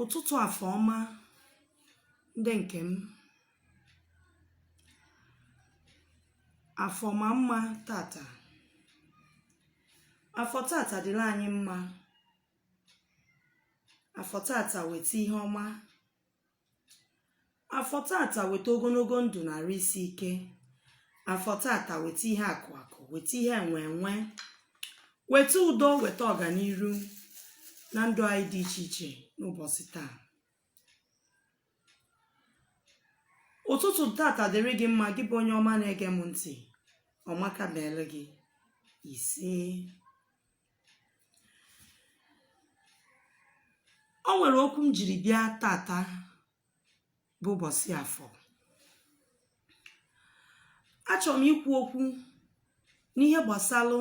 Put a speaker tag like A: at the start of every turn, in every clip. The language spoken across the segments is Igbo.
A: ụtụtụ afọ ọma ndị nke m afọ maa mma tata afọ tata dịrị anyị mma afọ tata weta ihe ọma afọ tata weta ogologo ndụ na arụ isi ike afọ tata weta ihe akụ akụ weta ihe enwe enwe weta udo weta ọganiru na ndụ anyị dị iche iche n'ụbọsị taa ụtụtụ tata dịrị gị mma gị bụ onye ọma na-ege m ntị ọmaka meere gị ise o nwere okwu m jiri bịa tata bụ ụbọsị afọ achọrọ m ikwu okwu n'ihe gbasalụ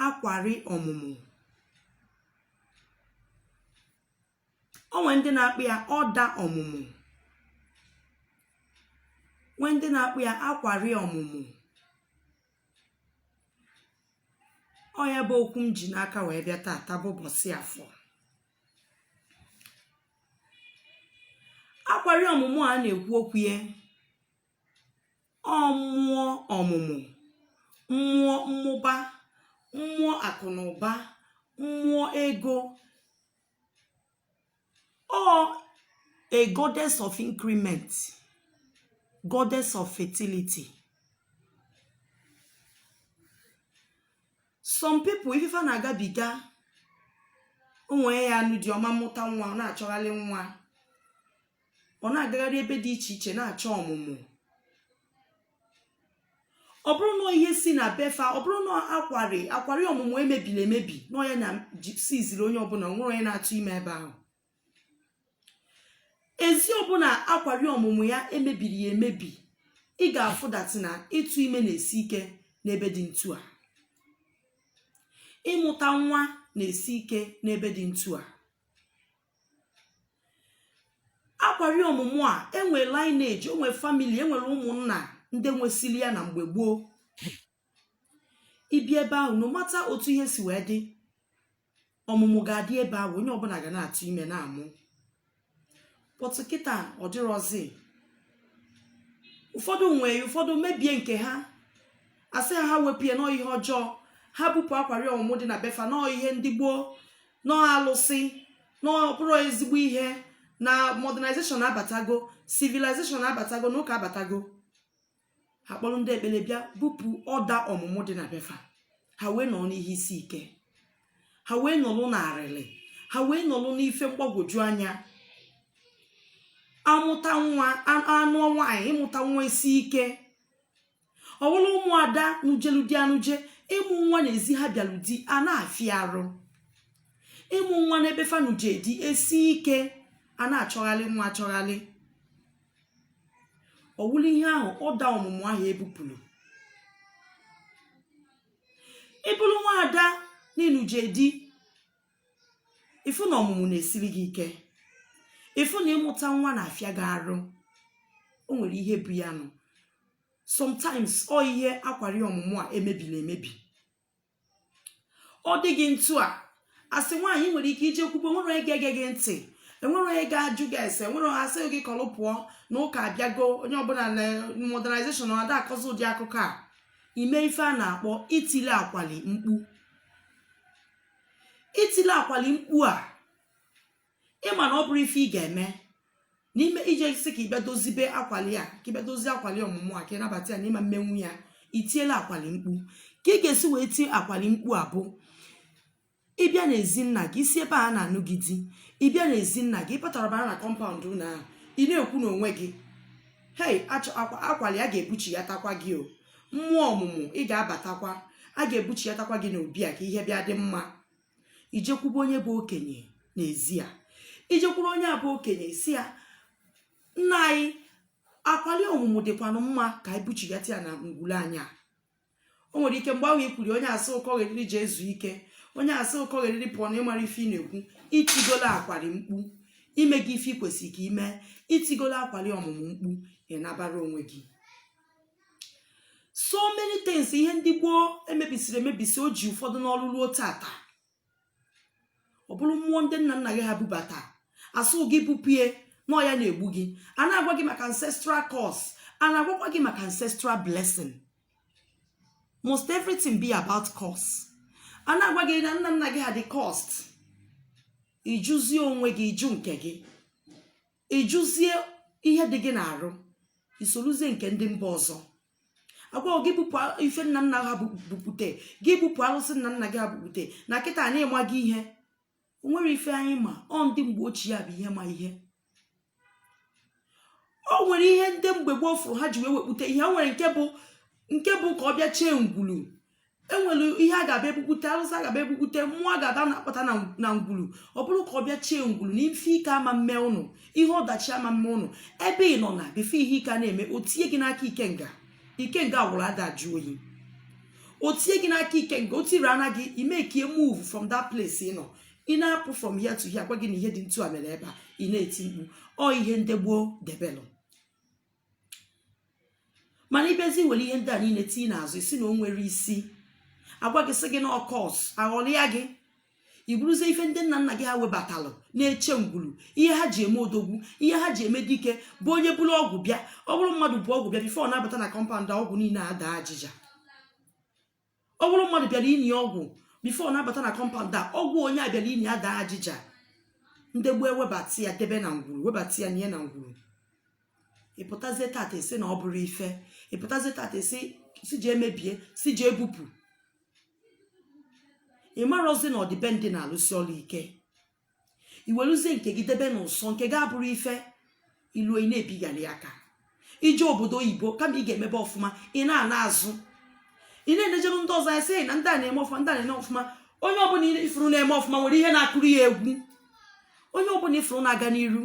A: akwari ọmụmụ o nwere ndị na-akpọ ya ọda ọmụmụ nwee ndị na-akpọ ya akwari ọmụmụ ọ ya bụ okwu m ji n'aka wee bịa taata bụ ụbọsị afọ akwari ọmụmụ a na-ekwu okwu ya ọ mmụọ ọmụmụ mmụọ mmụba mmụọ akụ na ụba mmụọ ego or a goddess of increment goddess of fertility some people ife fa na-agabiga o nwee ya anụ di ọ ma mụta nwa ọ na-achọgharị nwa ọ na-agagharị ebe dị iche iche na-achọ ọmụmụ ọ bụrụ na ihe si na befa ọ bụrụ na akwari ọmụmụ e mebiri emebi na ọ ya na-esiziri onye ọbụna nwere onye na-atụ ime ebe ahụ ezi ọbụna akwari ọmụmụ ya e mebiri ya emebi ị ga-afụ that na ịtụ ime na-esi ike n'ebe dị ntu a ịmụta nwa na-esi ike n'ebe dị ntu a akwari ọmụmụ a e nwee lineage e nwee family e nwere ụmụnna ndị nwesili ya na mgbe gboo i bi ebe ahụ no matter otu ihe si wee dị ọmụmụ ga-adị ebe ahụ onye ọbụna ga na-atụ ime na-amụ but kịta ọ dịrọzi ụfọdụ nwee ụfọdụ mebie nke ha asị ha ha wepụ ya na ọ ihe ọjọọ ha bupụ akwari ọmụmụ dị na befa na ọ ihe ndị gboo na ọ alụsị na ọ bụrọ ezigbo ihe na modernization abatago civilization abatago na ụka abatago ha kpọrọ ndị ekpere bịa bupụ ọda ọmụmụ dị na befa ha wee nọrọ n'ihe isi ike ha wee nọlụ n'arịlị ha wee nọlụ n'ife mgbagwoju anya amụta nwa anụọ nwaanyị ịmụta nwa isi ike ọ wụlụ ụmụada nụjelu di anụje ịmụ nwa n'ezi ha bịalụ di a na-afịa arụ ịmụ nwa n'ebe fa nụje di esi ike a na-achọghalị nwa achọghalị ọ wụlụ ihe ahụ ọda ọmụmụ ahụ ebupụrụ ịbụrụ nwaada n'ịnụje di ịfụ na ọmụmụ na-esiri gị ike ịfụ na ịmụta nwa na-afịa gị arụ o nwere ihe bụ ya nụ sometimes ọ ihe akwari ọmụmụ a emebiri emebi ọ dị gị ntu a asị nwaanyị nwere ike ije kwube nwere onye ga-ege gị ntị enwere onye ga-ajụ gị ese enwere onye asị gị kọlụ pụọ na ụka abịago onye ọbụla na modernization ọ ada akọzi ụdị akụkọ a ime ife a na-akpọ itili akwali mkpu itile akwali mkpu a ịma na ọ bụrọ ife ị ga-eme n'ime ije sị ka ịbịa dozibe akwali a ka ịbịa dozie akwali ọmụmụ a ka ịnabata ya na ịma mmenwu ya itiela akwali mkpu ka ị ga-esi wee tie akwali mkpu a bụ ịbịa na ezi nna gị isi ebe a na-anụ gị di ịbịa na ezi nna gị ịpụtara bara na compound ụlọ ahụ ị na-ekwu n'onwe gị hei akwali a ga-ebuchiatakwa gị o mmụọ ọmụmụ ị ga-abatakwa a ga-ebuchiatakwa gị n'obi a ka ihe bịa dị mma ijekwube onye bụ okenye n'ezi a ijekwuru onye a bụ okenye sị ya nna anyị akwali ọmụmụ dịkwanụ mma ka anyị buchiata ya na ngwulu anyị a o nwere ike mgbe ahụ ikwuri onye asị ị kọgheriri jee zuo ike onye asị ị kọgheriri pụọ na ịmarọ ife ị na-ekwu itigolo akwari mkpu imego ife ikwesịrị ka ime itigolo akwali ọmụmụ mkpu ịnabara onwe gị so many things ihe ndị gboo emebisiri emebisi o ji ụfọdụ n'ọrụ ruo tata ọ bụrụ mmụọ ndị nna nna gị ha bubata asị gị bupụ ya na ọ ya na-egbu gị a na-agwa gị maka ancestral curse a na-agwakwa gị maka ancestral blessing must everything be about curse a na-agwa gị na nna nna gị ha dị cursed ịjụzie onwe gị ịjụ nke gị ịjụzie ihe dị gị n'arụ isoluzie nke ndị mba ọzọ agwa gị bupụ ife nna nna ha bukpute gị bupụ alụsị nna nna gị ha bukpute na kịta na ịmaghị ihe o nwere ife anyị ma ọ ndị mgbe ochie ya bụ ihe ma ihe o nwere ihe ndị mgbe gboo fụrụ ha ji wee wekpute ihe o nwere nke bụ nke bụ ka ọ bịa chee ngwulu enwere ihe a ga-abịa ebukwute arụsị a ga-abịa ebukwute mmụọ a ga-aba na-akpọta na ngwulu ọ bụrụ ka ọ bịa chee ngwulu na ife ike ama mme ụnụ ihe ọdachi ama mme ụnụ ebe ị nọ na before ihe ike a na-eme o tinye gị n'aka ikenga ikenga gwụrụ ada ajụ oyi o tinye gị n'aka ikenga o tiri ana gị ime ka i move from that place ị nọ ị na-apụ from here to here gwa gị na ihe dị ntu a mere ebe a ị na-eti mkpu ọ ihe ndị gboo debelụ mana ịbịazi were ihe ndị a niile tinye n'azụ isi na o nwerọ isi agwa gị sị gị na ọ curse aghọlịa gị iburuzie ife ndị nna nna gị ha webatalụ na-eche ngwulu ihe ha ji eme odogwu ihe ha ji eme dike bụ onye buru ọgwụ bịa ọ bụrụ mmadụ bu ọgwụ bịa before ọ na-abata na compound ọgwụ niile ada ajịja ọ bụrụ mmadụ bịara ini ọgwụ before ọ na-abata na compound a ọgwụ onye a bịara ini adaa ajịja ndị gboo ewebata ya debe na ngwuru webata ya nye na ngwuru ịpụtazie tata isi na ọ bụrọ ife ịpụtazie tata isi je emebie si je ebupụ ị marọzi na ọdịbendị na-alụsi ọrụ ike iweluzie nke gị debe n'ụsọ nke gị abụrụ ife ilu ị na-ebigharị aka ije obodo oyibo kama ị ga-emebe ọfụma ị na-ana azụ ị na-enejere ndị ọzọ anya sị na ndị a na-eme ọfụma ndị a na-eme ọfụma onye ọbụla ifuru na-eme ọfụma nwere ihe na-akụrụ ya egwu onye ọbụla ifuru na-aga n'iru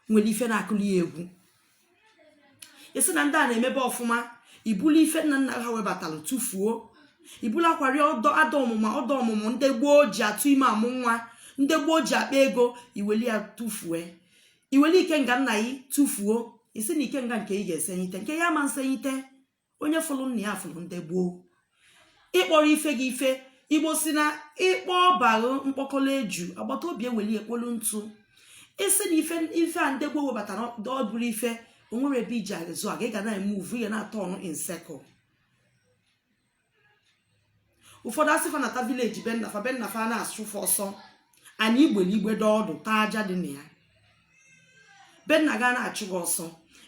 A: nwere ife na-akụrụ ya egwu isi na ndị a na-emebe ọfụma ibulu ife nna nna ha webatara tụfuo ibulu akwari ọdọ ada ọmụma ọdọ ọmụmụ ndị gboo ji atụ ime amụ nwa ndị gboo ji akpa ego iweli ya tụfue iweli ikenga nna gị tụfuo isi na ikenga nke ị ga-esenyite nke ya ma nsenyite onye fụrụ nna ya fụrụ ndị gboo ịkpọrọ ife gị ife igbo si na ịkpọ ọba gị mkpọkọrọ eju agbata obi eweli ya kpolu ntụ isi na ife a ndị gboo webatara ọ bụrọ ife o nwerọ ebe iji azụ aga ị ga na-emove ị ya na-aturn in circle ụfọdụ asị fa nata village be nna fa be nna fa a na-achụ fa ọsọ ana igbelu igbe dọọ ọdụ taa aja dị na ya be nna gị a na-achụ gị ọsọ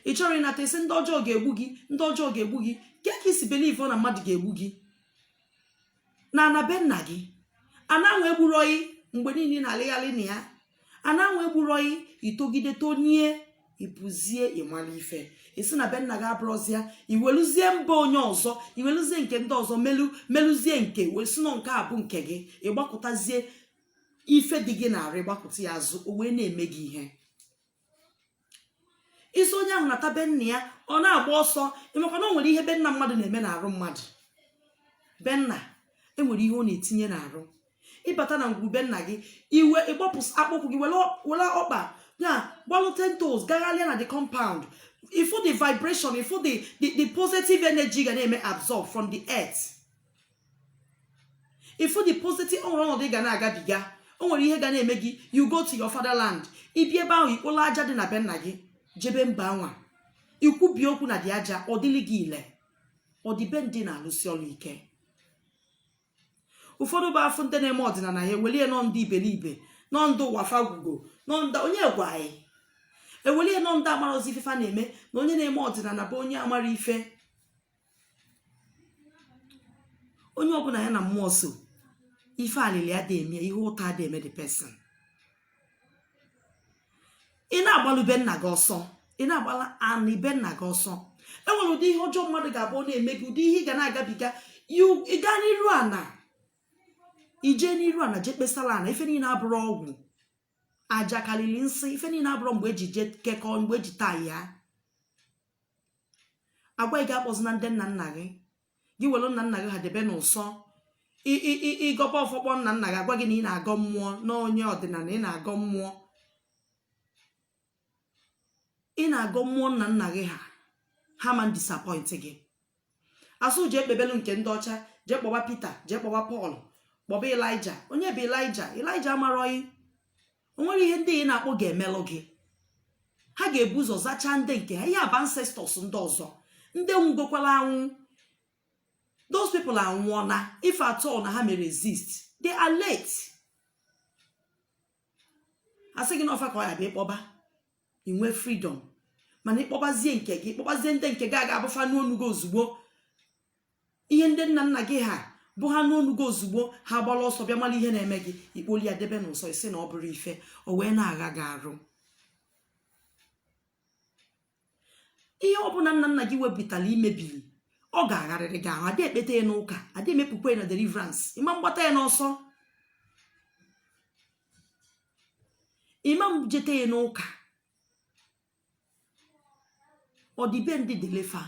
A: ị chọrọ ịnata isi ndị ọjọọ ga-egbu gị ndị ọjọọ ga-egbu gị ke ka isi believe na mmadụ ga-egbu gị na ana be nna gị ana anwa egburọ gị mgbe niile na-alịgharị na ya ana anwa egburọ gị itogide tonie ịpụzie ịmara ife isi na be nna gị abụrọzi ya iweluzie mba onye ọzọ iweluzie nke ndị ọzọ melu meluzie nke wee si na ọ nke a bụ nke gị ịgbakụtazie ife dị gị n'arụ gbakụta ya azụ o wee na-eme gị ihe ị sị onye ahụ nata be nna ya ọ na-agba ọsọ ị makwa na o nwere ihe be nna mmadụ na-eme n'arụ mmadụ be nna enwere ihe ọ na-etinye n'arụ ị bata na ngwuru be nna gị i wee gbapụ akpụkwụ gị were ọkpa ya gbalụ ten toes gaghalịa na the compound ị fụ the vibration ị fụ the the positive energy ị ga na-eme absorb from the earth ị fụ the positive o nwere ọnọdụ ị ga na-agabiga o nwere ihe ga na-eme gị you go to your fatherland ị bịa ebe ahụ i kpolo aja dị na be nna gị jebe mba anwa i kwube okwu na the aja ọ dịlị gị ile ọdịbendị na-alụsi ọlụ ike ụfọdụ bụ a fụ ndị na-eme ọdịnala ya ewelie na ọ ndị iberibe na ọ ndị ụwa fa gwụgo na ọ ndị onye gwa anyị ewelie na ọ ndị amarọzi ife fa na-eme na onye na-eme ọdịnala bụ onye amarọ ife onye ọbụla ya na mmụọ so ife alịlị adị eme ihe ụta adị eme the person ị na-agbalụ be nna gị ọsọ ị na-agbala ana be nna gị ọsọ enwere ụdị ihe ọjọọ mmadụ ga-abụ ọ na-eme gị ụdị ihe ị ga na-agabiga ị gaa n'iru ana i jee n'iru ana jee kpesara ana ife niile abụrọ ọgwụ aja karịrị nsị ife niile abụrọ mgbe eji je kekọọ mgbe eji taa ya a gwa gị akpọzina ndị nna nna gị gị welu nna nna gị ha debe n'ụsọ ị gọba ọfọ kpọọ nna nna gị a gwa gị na ị na-agọ mmụọ na onye ọdịnala ị na-agọ mmụọ ị na-agọ mmụọ nna nna gị ha ha ma disappoint gị a sị jee kpebelu nke ndị ọcha jee kpọba Peter jee kpọba Paul kpọba Elijah onye bụ Elijah Elijah amarọ gị o nwere ihe ndị ị na-akpọ ga-emelụ gị ha ga-ebu ụzọ zachaa ndị nke ha ihe a bụ ancestors ndị ọzọ ndị nwugokwala anwụ those people anwụọna if at all na ha mere exist they are late a sị gị na ọ fa ka ọ ya-abụ ị kpọba i nwee freedom mana ị kpọbazie nke gị ị kpọbazie ndị nke gị ọ ga-abụ fa nụ onu gị ozugbo ihe ndị nna nna gị ha bụ ha nụ onu gị ozugbo ha gbala ọsọ bịa mara ihe na-eme gị i kpoli ya debe n'ụsọ ị sị na ọ bụrọ ife o wee na-agha gị arụ ihe ọbụla nna nna gị wepụtara i mebiri ọ ga-agharịrị gị ahụ adị ekpeta ya n'ụka adị emepụkwa ya na deliverance ị ma mgbata ya n'ọsọ ị ma njete ya n'ụka ọdịbendị dị ile fa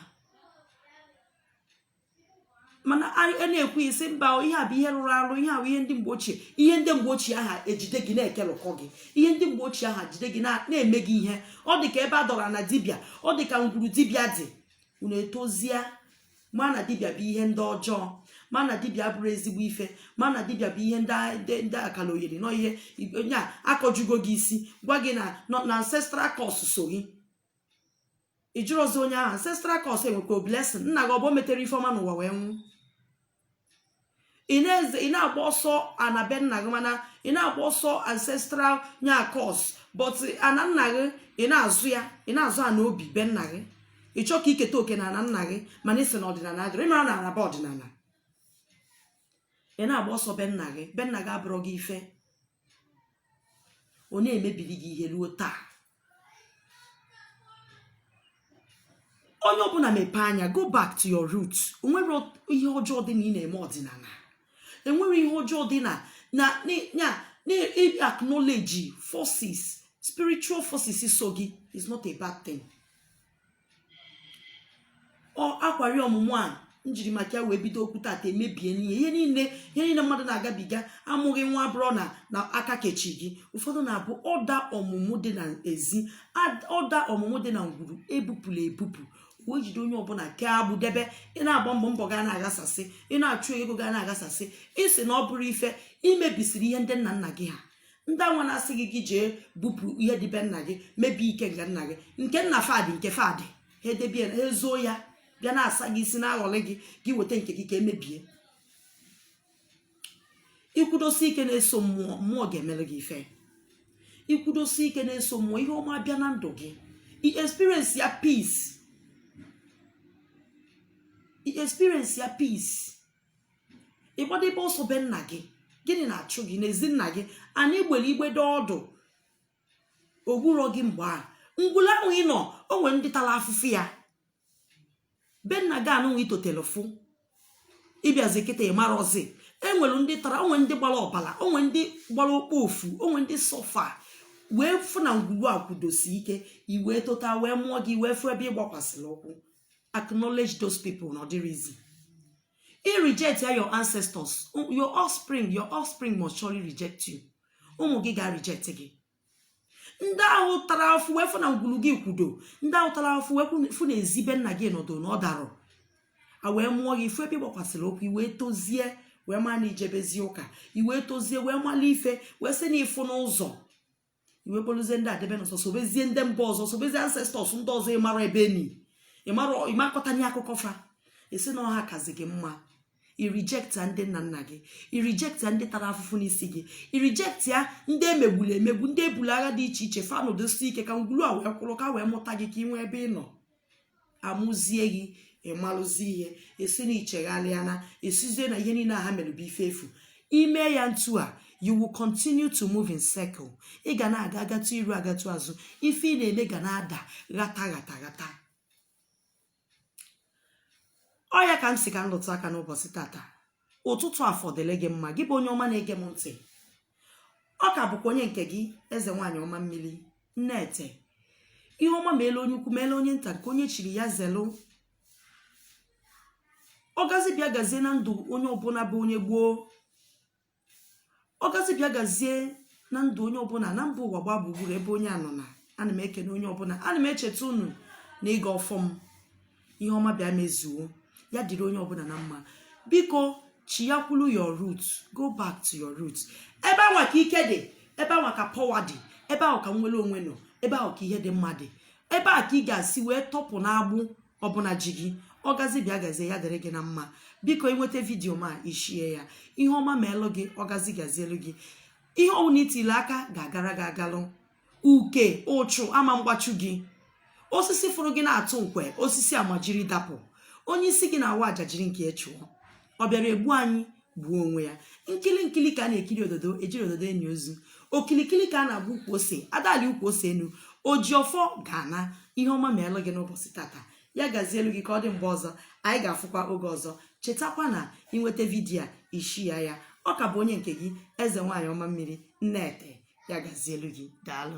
A: mana a na-ekwu ị sị mba ihe a bụ ihe rụrụ arụ ihe a bụ ihe ndị mgbe ochie ihe ndị mgbe ochie ahụ ejide gị na-ekelụkọ gị ihe ndị mgbe ochie ahụ jide gị na-eme gị ihe ọ dị ka ebe a dọrọ na dibịa ọ dị ka ngwuru dibịa dị unu etozie ma na dibịa bụ ihe ndị ọjọọ ma na dibịa abụrọ ezigbo ife ma na dibịa bụ ihe ndị akalogheri nọ ihe onye a akọjugo gị isi gwa gị na na ancestral curse so gị ị jụrọzi onye ahụ ancestral curse enwekwa blessing nna gị ọ bụ o metere ife ọma n'ụwa wee nwụ ị na-eze ị na-agba ọsọ ana be nna gị mana ị na-agba ọsọ ancestral nya curse but ana nna gị ị na-azọ ya ị na-azọ ana obi be nna gị ị chọọ ka i keta oke na ana nna gị mana ị sị na ọdịnana adịrọ ị marọ na ana bụ ọdịnana ị na-agba ọsọ be nna gị be nna gị abụrọ gị ife ọ na-emebiri gị ihe luo taa onye ọbụla mepee anya go back to your root o nwerọ ihe ọjọọ dị na ị na-eme ọdịnana enwerọ ihe ọjọọ dị na na na na-acknowledge forces spiritual forces so gị is not a bad thing ọ akwari ọmụmụ a m jiri maka ya wee bido okwu tata emebie n'ihe ihe niile ihe niile mmadụ na-agabiga amụghị nwa abụrụ na na aka kechi gị ụfọdụ na-abụ ọda ọmụmụ dị na ezi ad- ọda ọmụmụ dị na ngwuru ebupụla ebupụ wee jide onye ọbụla kee agbụ debe ị na-agba mbọ mbọ ga na-aghasasị ị na-achụ ego ga na-aghasasị ị sị na ọ bụrọ ife i mebisiri ihe ndị nna nna gị ha ndị anwa na-asị gị gị jee bupụ ihe dị be nna gị mebie ike nke nna gị nke nna fa dị nke fa dị ha edebe ha ezuo ya bịa na-asa gị isi na-aghọrị gị gị weta nke gị ka e mebie i kwudosi ike na-eso mmụọ mmụọ ga-emere gị ife i kwudosi ike na-eso mmụọ ihe ọma bịa na ndụ gị i experience ya peace i experience ya peace ị gbadebe ọsọ be nna gị gịnị na-achụ gị n'ezi nna gị anyị gbere igbede ọdụ ogburọ gị mgbe a ngwulu ahụ ị nọ o nwere ndị tara afụfụ ya be nna gị anụnwa i totelu fụ ị bịazi kịta ị marọzi enwere ndị tara o nwe ndị gbara ọbara o nwe ndị gbara okpofu o nwe ndị suffer wee fụ na ngwuru a kwudosi ike i wee tota wee mụọ gị wee fụ ebe ị gbakwasịrị ụkwụ acknowledge those people na ọdịrịzi i reject ya your ancestors your offspring your offspring must surely reject you ụmụ gị ga reject gị ndị ahụ tara afụfụ wee fụ na ngwulu gị kwudo ndị ahụ tara afụfụ wee kwụ- fụ na ezi be nna gị nọdụ na ọ darọ a wee mụọ gị ị fụ ebe ị gbakwasịrị ụkwụ i wee tozie wee maa na i jebezi ụka i wee tozie wee mala ife wee sị na ị fụna ụzọ i wee kpoluzie ndị a debe n'ụsọ sobezie ndị mba ọzọ sobezie ancestors ndị ọzọ ị marọ ebe e ni ịmakọtanye akụkọ fa ị sị na ọ ha kazi gị mma i reject ndị nna nna gị i reject ndị tara afụfụ n'isi gị i reject ya ndị e megburu emegbu ndị e bulu agha dị iche iche fa nọdosi ike ka ngwulu a wee kwụrụ ka e wee mụta gị ka ị nwee ebe ị nọ a mụzie gị ị malụzie ihe esi na ị chegharịana esizie na ihe niile ha mere bụ ife efu ime ya ntu a you will continue to move in circle ị ga na-aga agatụ iru agatụ azụ ife ị na-eme ga na-ada ghata ghata ghata ọ ya ka m si ka m lụtụ aka n'ụbọchị tata ụtụtụ afọ dịlị gị mma gị bụ onye ọma na-ege m ntị ọ ka bụkwa onye nke gị eze nwaanyị ọma mmiri nnete ihe ọma meelụ onye ukwu meelụ onye nta nke onye chiri ya zelụ ọgazi bịa gazie na ndụ onye ọbụla bụ onye gboo ọgazi bịa gazie na ndụ onye ọbụla na mba ụwa gbaa gburugburu ebe onye anọ na ana m ekene onye ọbụla ana m echeta unu na ịgọ ọfọ m ihe ọma bịa mezuo ya dịrị onye ọbụla na mma biko chiyakwulu your root go back to your root ebe anwa ka ike dị ebe anwa ka power dị ebe ahụ ka nnwere onwe nọ ebe ahụ ka ihe dị mma dị ebe a ka ị ga-esi wee tọpụ n'agbụ ọbụna ji gị ọgazi bịa gazie ya dịrị gị na mma biko ị nweta video m a ị share ya ihe ọma meelụ gị ọgazi gazielu gị ihe ọwụna i tili aka ga-agara gị agalụ uke ụchụ ama mgbachu gị osisi fụrụ gị na-atụ nkwe osisi a majiri dapụ onye isi gị na-awa aja jiri nke ya chụọ ọ bịara egbu anyị gbuo onwe ya nkili nkili ka a na-ekiri ododo ejiri ododo eni ozu okilikili ka a na-agba ukwu ose ada alị ukwu ose enu oji ọfọ ga-ana ihe ọma meelụ gị n'ụbọchị tata ya gazielu gị ka ọ dị mgbe ọzọ anyị ga-afụkwa oge ọzọ chetakwa na ị nweta video a ị share ya ọ ka bụ onye nke gị eze nwaanyị ọma mmiri nnete ya gazielu gị daalụ